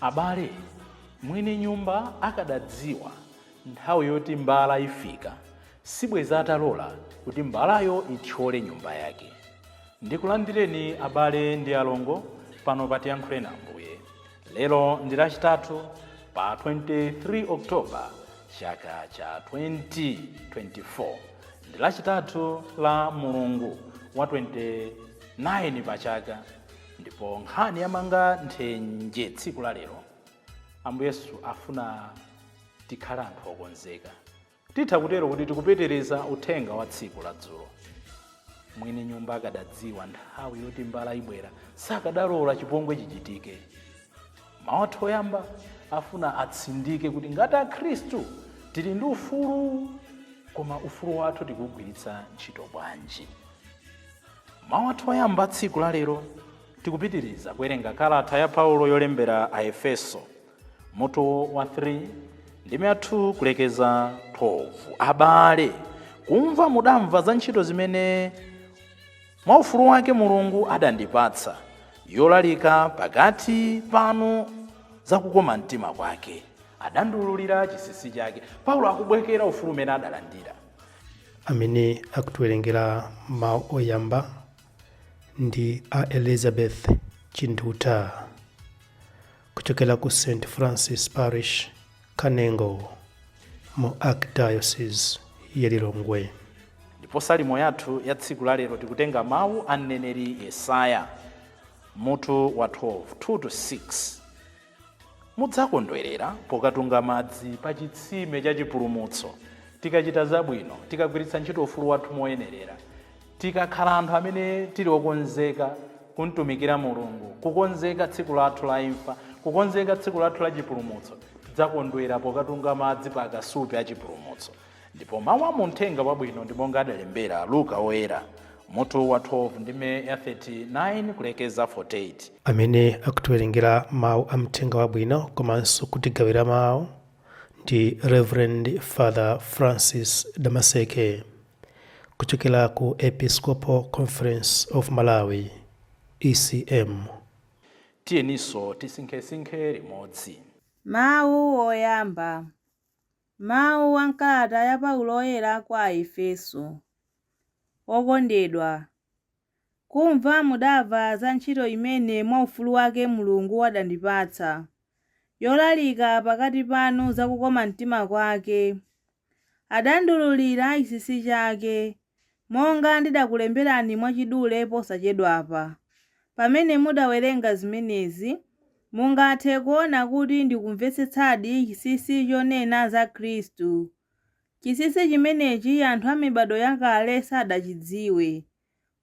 Abale, mwini nyumba akadadziwa nthawi yoti mbala ifika, sibwenzi atalola kuti mbalayo ithyole nyumba yake. Ndikulandireni abale ndi alongo pano pa Tiyankhuleni Ambuye. Lero ndi Lachitatu pa 23 October chaka cha 2024. Ndi Lachitatu la mulungu wa 29 pa chaka. Ndipo nkhani yamanga nthenje tsiku la lero, Ambuye Yesu afuna tikhale anthu okonzeka. Titha kutero kuti tikupitiriza uthenga wa tsiku la dzulo. Mwini nyumba akadadziwa nthawi yoti mbala ibwera, sakadalola chipongwe chichitike. Mawu athu oyamba afuna atsindike kuti ngati Akhristu tili ndi ufulu, koma ufulu wathu tikuwugwiritsa ntchito bwanji? Mawu athu oyamba a tsiku la lero, tikupitiriza kuwerenga kalata ya Paulo yolembera Aefeso, mutu wa 3 ndime ya 2 kulekeza 12. Abale, kumva mudamva za ntchito zimene mwa ufulu wake Mulungu adandipatsa yolalika pakati panu za kukoma mtima kwake, adandiululira chinsinsi chake. Paulo akubwekera ufulu umene adalandira. amene akutiwerengera mawu oyamba ndi a elizabeth chinduta kuchokera ku st francis parish kanengo mu archdiocese ya lilongwe ndipo salimo yathu ya tsiku la lero tikutenga mawu a mneneri yesaya mutu wa 12 2 to 6 Mudzakondwerera pokatunga madzi pa chitsime cha chipulumutso. Tikachita zabwino, tikagwiritsa ntchito ufulu wathu moyenerera, tikakhala anthu amene tili okonzeka kumtumikira Mulungu, kukonzeka tsiku lathu la imfa, kukonzeka tsiku lathu la chipulumutso, tidzakondwera pokatunga madzi pa akasupe a chipulumutso. Ndipo mawu a mu Mthenga Wabwino ndi monga adalembera Luka Woyera, mutu wa 12 ndime ya 39 kulekeza 48. Amene akutiwerengera mawu a Mthenga Wabwino komanso kutigawira mawu ndi Reverend Father Francis Damaseke kuchokera ku Episcopal Conference of Malawi, ECM. Tiyeninso tisinkhesinkhe limodzi. Mawu oyamba, Mawu a m'kalata ya Paulo Woyera kwa Aefeso Okondedwa, kumva mudamva za ntchito imene mwa ufulu wake Mulungu adandipatsa, yolalika pakati panu za kukoma mtima kwake. Adandiwululira chinsinsi chake, monga ndidakulemberani mwachidule posachedwapa. Pamene mudawerenga zimenezi, mungathe kuona kuti ndikumvetsetsadi chinsinsi chonena za Khristu. Chinsinsi chimenechi anthu a mibadwo yakale sadachidziwe,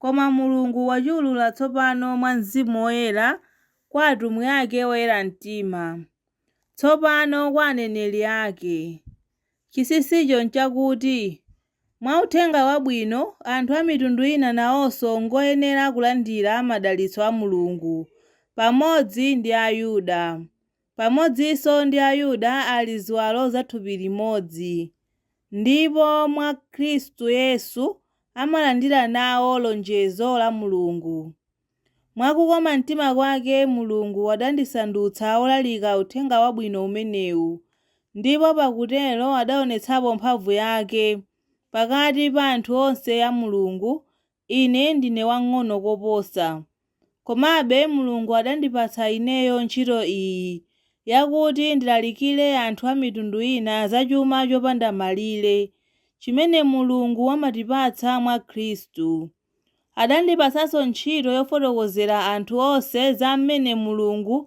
koma Mulungu wachiwulula tsopano mwa Mzimu Woyera kwa atumwi ake oyera mtima, tsopano kwa aneneri ake. Chinsinsicho nchakuti Mwa uthenga wabwino, anthu a mitundu ina nawonso n'ngoyenera kulandira madalitso a Mulungu, pamodzi ndi Ayuda. Pamodzinso ndi Ayuda ali ziwalo za thupi limodzi, ndipo mwa Khristu Yesu amalandira nawo lonjezo la Mulungu. Mwa kukoma mtima kwake, Mulungu adandisandutsa wolalika Uthenga Wabwino umenewu, ndipo pakutero adaonetsapo mphamvu yake, pakati pa anthu onse a Mulungu, ine ndine wamng'ono koposa. Komabe Mulungu adandipatsa ineyo ntchito iyi, yakuti ndilalikire anthu a mitundu ina za chuma chopanda malire, chimene Mulungu amatipatsa mwa Khristu. Adandipatsanso ntchito yofotokozera anthu onse za m'mene Mulungu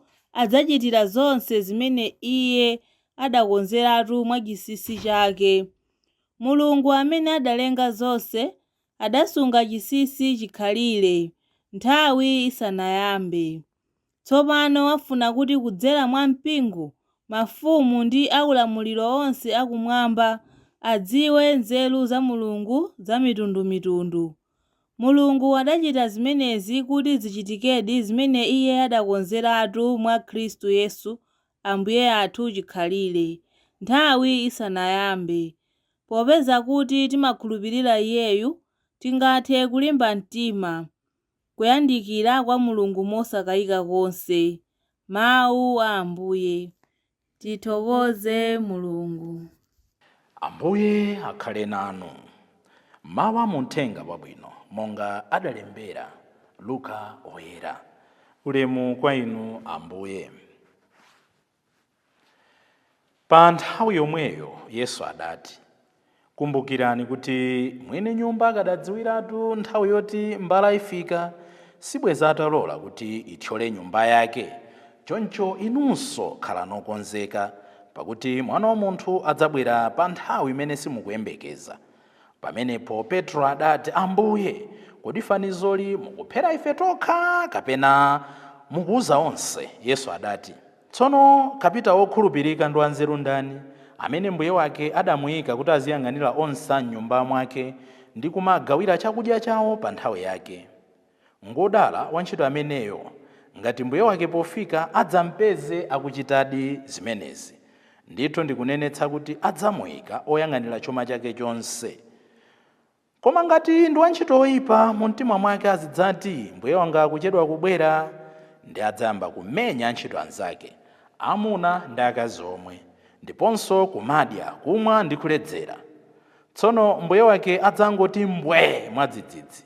adzachitira zonse zimene Iye adakonzeratu mwa chinsinsi chake. Mulungu amene adalenga zonse, adasunga chinsinsi chikhalire, nthawi isanayambe. Tsopano wafuna kuti kudzera mwa mpingo, mafumu ndi aulamuliro onse akumwamba adziwe nzeru za Mulungu zamitundumitundu. Mulungu adachita zimenezi kuti zichitikedi zimene Iye adakonzeratu mwa Khristu Yesu Ambuye athu chikhalire, nthawi isanayambe. Popeza kuti timakhulupirira Iyeyu, tingathe kulimba mtima. kuyandikira kwa Mulungu mosakayika konse. Mawu a Ambuye. Tithokoze Mulungu. Ambuye akhale nanu. Mawu a mu Uthenga Wabwino monga adalembera Luka Woyera. Ulemu kwa Inu Ambuye. Pa nthawi yomweyo Yesu adati, Kumbukirani kuti mwini nyumba akadadziwiratu nthawi yoti mbala ifika, sibwenzi atalola kuti ithyole nyumba yake. Choncho inunso khalani okonzeka, pakuti Mwana wa Munthu adzabwera pa nthawi imene simukuyembekeza. Pamenepo Petro adati, Ambuye, kodi fanizoli mukuphera ife tokha, kapena mukuuza onse? Yesu adati, Tsono kapitao wokhulupirika ndi wanzeru ndani, amene mbuye wake adamuika kuti aziyang'anira onse a m'nyumba mwake, ndi kumagawira chakudya chao pa nthawi yake? Ngwodala wantchito ameneyo ngati mbuye wake pofika adzampeze akuchitadi zimenezi. Ndithu ndikunenetsa kuti adzamuika woyang'anira chuma chake chonse. Koma ngati ndi wantchito woipa, mumtima mwake azidzati, Mbuye wanga akuchedwa kubwera! Ndiye adzayamba kumenya antchito anzake, amuna ndi akazi omwe, ndiponso kumadya, kumwa ndi kuledzera. Tsono mbuye wake adzangoti mbwee mwadzidzidzi,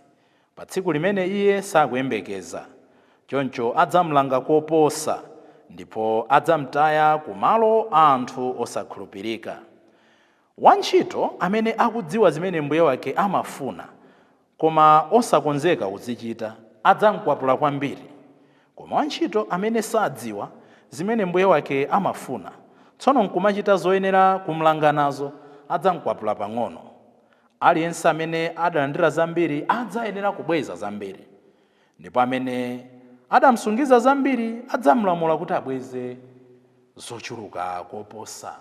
pa tsiku limene iye sakuyembekeza, choncho adzam'langa koposa, ndipo adzam'taya ku malo a anthu osakhulupirika. Wantchito amene akudziwa zimene mbuye wake amafuna, koma osakonzeka kuzichita, adzam'kwapula kwambiri. Koma wantchito amene sadziwa zimene mbuye wake amafuna, tsono n'kumachita zoyenera kum'langa nazo, adzam'kwapula pang'ono. Aliyense amene adalandira zambiri adzayenera kubweza zambiri, ndipo amene adamsungiza zambiri adzamlamula kuti abweze zochuluka koposa.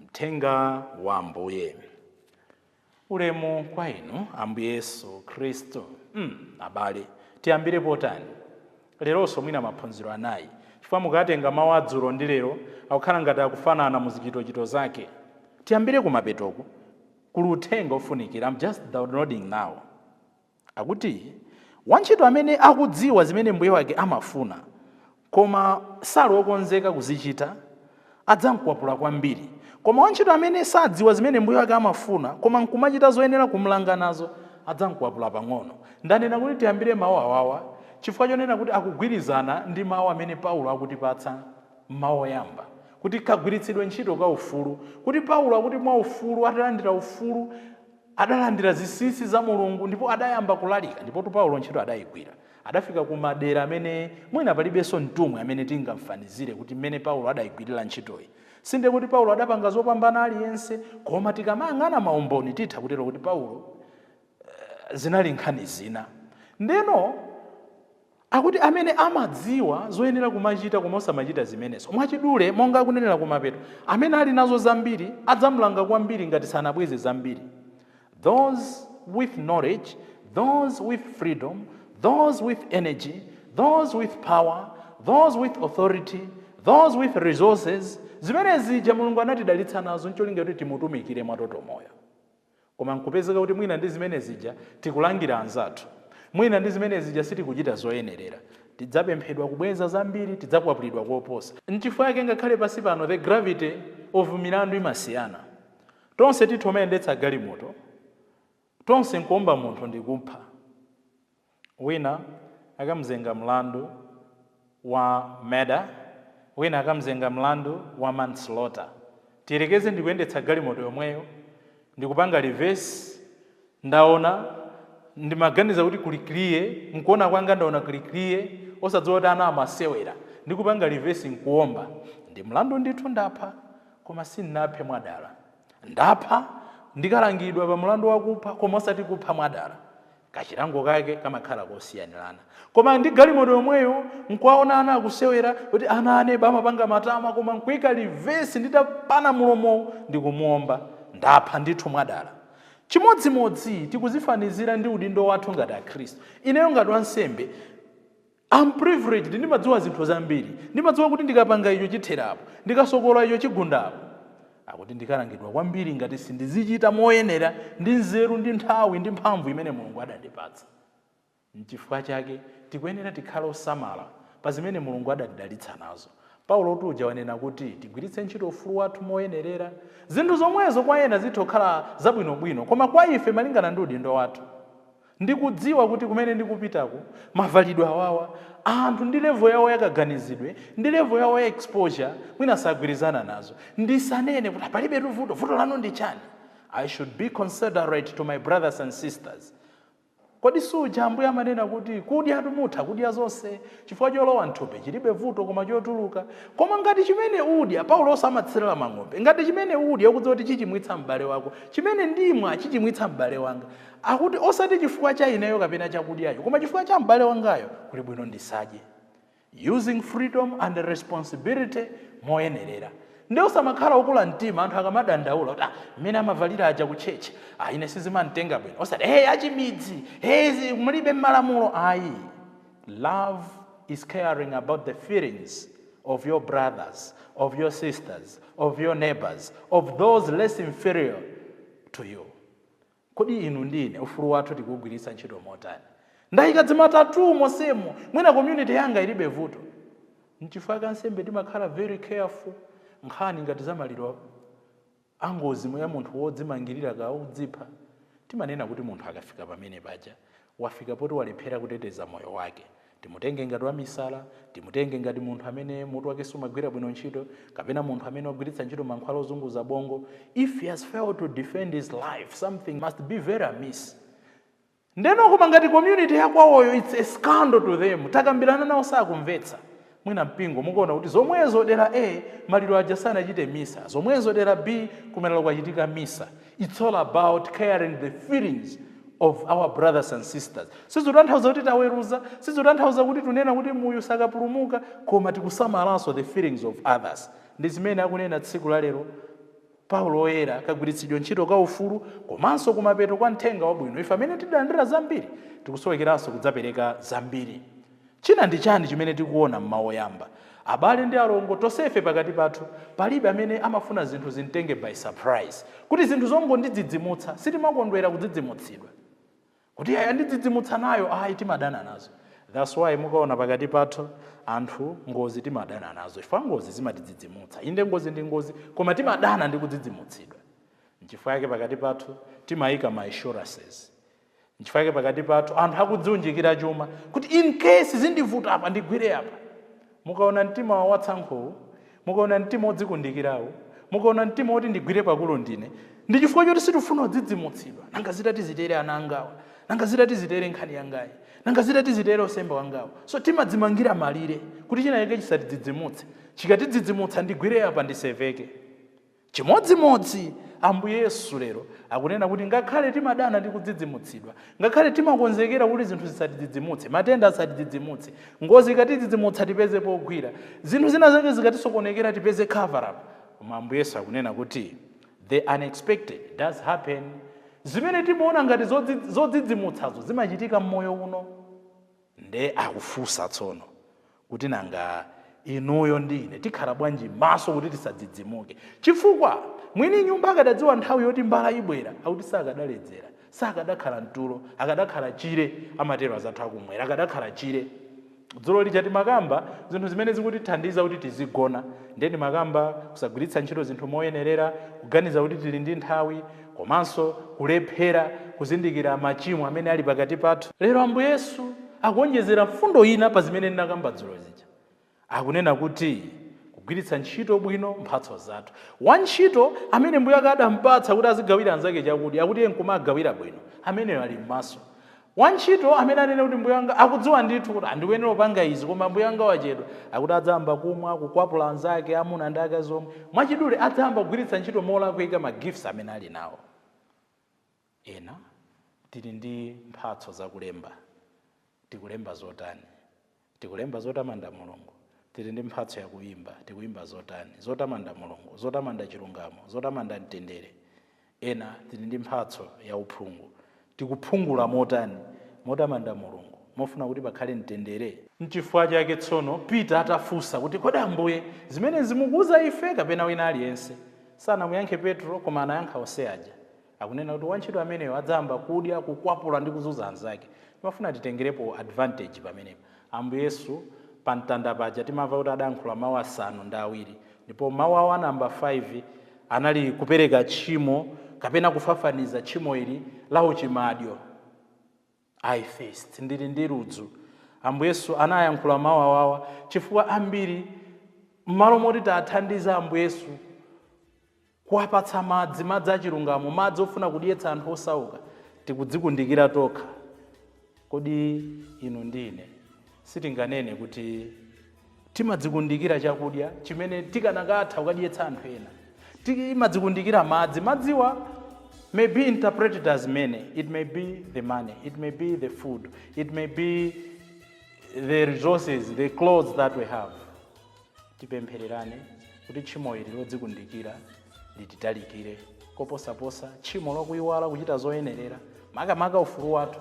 Mthenga wa Ambuye. Ulemu kwa Inu, Ambuye Yesu Khristu. mm, abale, tiyambire potani? leronso mwina maphunziro anayi, chifukwa mukatenga mawu a dzulo ndi lero akukhala ngati akufanana mu zichitochito zake. Tiyambire kumapetoku, kuli uthenga ofunikira, am just downloading now. Akuti, Wantchito amene akudziwa zimene mbuye wake amafuna, koma sali okonzeka kuzichita, adzam'kwapula kwambiri. Koma wantchito amene sadziwa zimene mbuye wake amafuna koma n'kumachita zoyenera kum'langa nazo, adzam'kwapula pang'ono. Ndanena kuti tiyambire mawu awawa chifukwa chonena kuti akugwirizana ndi mawu amene Paulo akutipatsa mawu oyamba, kuti kagwiritsidwe ntchito ka ufulu, kuti Paulo akuti mwaufulu, atalandira ufulu, adalandira zinsinsi za Mulungu ndipo adayamba kulalika. Ndipotu Paulo ntchito adaigwira. Adafika ku madera amene mwina palibenso mtumwi amene tingamfanizire kuti mmene Paulo adaigwirira ntchitoyi. Sindiye kuti Paulo adapanga zopambana aliyense, koma tikamayang'ana maumboni titha kutero kuti kuti Paulo zinali nkhani zina. Ndeno akuti amene amadziwa zoyenera kumachita koma osamachita zimenezo. Mwachidule, monga akunenera kumapeto, amene ali nazo zambiri adzamlanga kwambiri ngati sanabweze zambiri. Those with knowledge, those with freedom, those with energy, those with power, those with authority, those with resources, zimene zija mulungu anatidalitsa nazo ncholinga kuti timutumikire mwatotomoyo koma nkupezeka kuti mwina ndi zimene zija tikulangira anzathu mwina ndi zimene zija sitikuchita zoyenerera tidzapemphedwa kubweza zambiri tidzakwapulidwa koposa nchifukwa yake ngakhale pansi pano the gravity of milandu imasiyana Tonse tithu omayendetsa galimoto tonse nkuomba munthu ndikupha wina akamzenga mlandu wa murder wina akamzenga mlandu wa manslaughter tiyerekeze ndikuyendetsa galimoto yomweyo ndikupanga reverse ndaona ndimaganiza kuti kuli clear nkuona kwanga ndaona kuli clear osadziwa kuti ana amasewera ndikupanga reverse nkuomba ndi mlandu ndithu ndapha Koma sin'naphe mwadala. Ndapha ndikalangidwa pa mulandu wakupha koma osati kupha mwadala. Kachilango kake kamakhala kosiyanilana. Koma ndi galimoto yomweyo nkuwaona ana akusewera kuti ana a neba amapanga matama koma nkuika reverse nditapanga mulomowu ndikumuomba. Ndapha ndithu mwadala. Chimodzimodzi tikuzifanizira ndi udindo wathu ngati akhristu. Ineyo ngati wansembe. Am privileged, ndimadziwa zinthu zambiri. Ndimadziwa kuti ndikapanga icho chithera apo, ndikasokola icho chigunda apo. Akuti ndikalangidwa kwambiri ngati sindizichita moyenera ndi nzeru ndi nthawi ndi mphamvu imene Mulungu adandipatsa. Nchifukwa chake tikuyenera tikhale osamala pa zimene Mulungu adatidalitsa nazo. Paulotu ujanso wanena kuti tigwiritse ntchito ufulu wathu moyenerera. Zinthu zomwezo kwa ena zitha kukhala zabwinobwino, koma kwa ife malingana ndi udindo wathu. Ndikudziwa kuti kumene ndikupitako, mavalidwe awawa, anthu ndi level yawo ya kaganizidwe ndi level yawo ya exposure mwina sagwirizana nazo. Ndisanene kuti ah palibetu vuto, vuto lanu ndi chani? I should be considerate to my brothers and sisters. Kodi suja Ambuye amanena kuti kudyatu mutha kudya zonse chifukwa cholowa mthupi chilibe vuto koma chotuluka. Koma ngati chimene udya, Paulonso amatsirira mang'ombe, ngati chimene udya ukudziwa kuti chichimwitsa m'bale wako, chimene ndimwa chichimwitsa m'bale wanga. Akuti, Osati chifukwa cha ineyo kapena chakudyacho, koma chifukwa cha m'bale wangayo, kuli bwino ndisadye. Using Freedom and Responsibility Moyenerera. Nde osamakhala okula mtima anthu akamadandaula kuti, ah, mmene amavalira aja ku church, ah, ine sizimanditenga bwino. Osati, hey, achimidzi! Hey, izi mulibe mmalamulo! Ayi. Love is caring about the feelings of your brothers, of your sisters, of your neighbours, of those less inferior to you. Kodi inu ndi ine ufulu wathu tikuugwiritsa ntchito motani? Ndaika dzima tattoo monsemu, mwina community yanga ilibe vuto. Nchifukwa chake ansembe timakhala very careful nkhani ngati za maliro angozi ya munthu wodzimangilira kaya odzipha. Timanena kuti munthu akafika pamene paja Wafika poti walephera kuteteza moyo wake. Timutenge ngati wamisala, timutenge ngati munthu amene mutu wake sumagwira bwino ntchito, kapena munthu amene wagwiritsa ntchito mankhwala ozunguza bongo, if he has failed to defend his life, something must be very amiss. Ndeno koma ngati community yakwawoyo its a scandal to them, takambirana nawo sakumvetsa. mwina mpingo mukuona kuti zomwezo dera A maliro aja sanachite misa, zomwezo dera B kumaliro kwachitika misa, its all about caring the feelings of our brothers and sisters. Sizikutanthauza kuti taweruza, sizikutanthauza kuti tunena kuti muyu sakapulumuka, koma tikusamalanso the feelings of others. Ndi zimene akunena tsiku la lero Paulo Woyera, kagwiritsidwe ntchito ka ufulu, komanso kumapeto kwa mthenga wabwino ife amene tidalandira zambiri tikusowekeranso kudzapereka zambiri. China ndi chani chimene tikuona m'mau oyamba? Abale ndi alongo tonsefe pakati pathu palibe amene amafuna zinthu zimtenge by surprise, kuti zinthu zongondidzidzimutsa, sitimakondwera kudzidzimutsidwa. kuti yandidzidzimutsa nayo ayi timadana nazo that's why mukaona pakati pathu anthu ngozi timadana nazo chifukwa ngozi zimatidzidzimutsa inde ngozi ndi ngozi koma timadana ndi kudzidzimutsidwa nchifukwa yake pakati pathu timayika ma insurances nchifukwa yake pakati pathu anthu akudziunjikira chuma kuti in case zindivuta apa ndigwire apa Mukaona mtima watsankhowu, mukaona mtima wodzikundikirawu, mukaona mtima woti ndigwire pakulu ndine, ndi chifukwa choti sitikufuna kudzidzimutsidwa. Nanga zitati zitere ana angawa? Nanga zitati zitere nkhani yangayi? Nanga zitati zitere usemba wangawu? So timadzimangira malire kuti chinachake chisatidzidzimutse. Chikatidzidzimutsa ndigwire apa ndiseveke. Chimodzimodzi, Ambuye Yesu lero akunena kuti ngakhale timadana ndi kudzidzimutsidwa, ngakhale timakonzekera kuti zinthu zisatidzidzimutse, matenda asatidzidzimutse, ngozi ikatidzidzimutsa tipeze pogwira, zinthu zina zake zikatisokonekera tipeze cover up, koma Ambuye Yesu akunena kuti the unexpected does happen. Zimene timaona ngati zodzidzimutsazo zimachitika mmoyo uno. Nde akufusa tsono kuti nanga inuyo ndi ine tikhala bwanji maso kuti tisadzidzimuke chifukwa mwini nyumba akadadziwa nthawi yoti mbala ibwera akuti sakadaledzera, sakadakhala mtulo, akadakhala chire amatero azathu akumwera akadakhala chire. Dzulo lija timakamba zinthu zimene zikutithandiza kuti tizigona nde ndimakamba kusagwiritsa ntchito zinthu moyenerera, kuganiza kuti tili ndi nthawi, komanso kulephera kuzindikira machimo amene ali pakati pathu. Lero Ambuye Yesu akuonjezera mfundo ina pa zimene ndinakamba dzulo zija. Akunena kuti kugwiritsa ntchito bwino mphatso zathu. Wantchito amene mbuye wake adampatsa kuti azigawira anzake chakudya, akuti iye nkumagawira bwino, ameneyo ali mmaso. Wantchito amene anene kuti mbuye wanga akudziwa ndithu kuti ndikuyenera kupanga izi koma mbuye wanga wachedwa, akuti adzayamba kumwa, kukwapula anzake, amuna ndi akazi omwe. Mwachidule, adzayamba kugwiritsa ntchito molakwika ma gifts amene ali nawo. Ena tili ndi mphatso za kulemba. Tikulemba zotani? Tikulemba zotamanda Mulungu. Tili ndi mphatso ya kuimba. Tikuimba zotani? Zotamanda Mulungu. Zotamanda chilungamo. Zotamanda mtendere. Ena tili ndi mphatso ya uphungu. Tikuphungula motani? Motamanda Mulungu. Mofuna kuti pakhale mtendere? N'chifukwa chake tsono Peter atafunsa kuti, Kodi Ambuye, zimenezi mukuuza ife kapena wina aliyense? Sanamuyankhe Petro, koma anayankha onse aja. Akunena kuti wantchito ameneyo adzayamba kudya, kukwapula ndi kuzunza anzake. Timafuna titengerepo advantage pamenepa. Ambuye Yesu pa mtanda paja timamva kuti adayankhula mau asanu ndi awiri ndipo mau awo a number 5 anali kupereka tchimo kapena kufafaniza tchimo ili la uchimadyo. I thirst. Ndili ndi ludzu. Ambuye Yesu anayankhula mau awawa chifukwa ambiri m'malo moti tiwathandize Ambuye Yesu kuwapatsa madzi, madzi achilungamo, madzi ofuna kudyetsa anthu osauka, tikudzikundikira tokha. Kodi inu ndi ine sitinganene kuti Timadzikundikira chakudya chimene tikanakatha kukadyetsa anthu ena. Timadzikundikira madzi. Madziwa may be interpreted as many. It may be the money. It may be the food. It may be the resources, the clothes that we have. Tipemphererane kuti tchimo ili lodzikundikira lititalikire. Koposaposa, tchimo lokuyiwala kuchita zoyenerera, makamaka ufulu wathu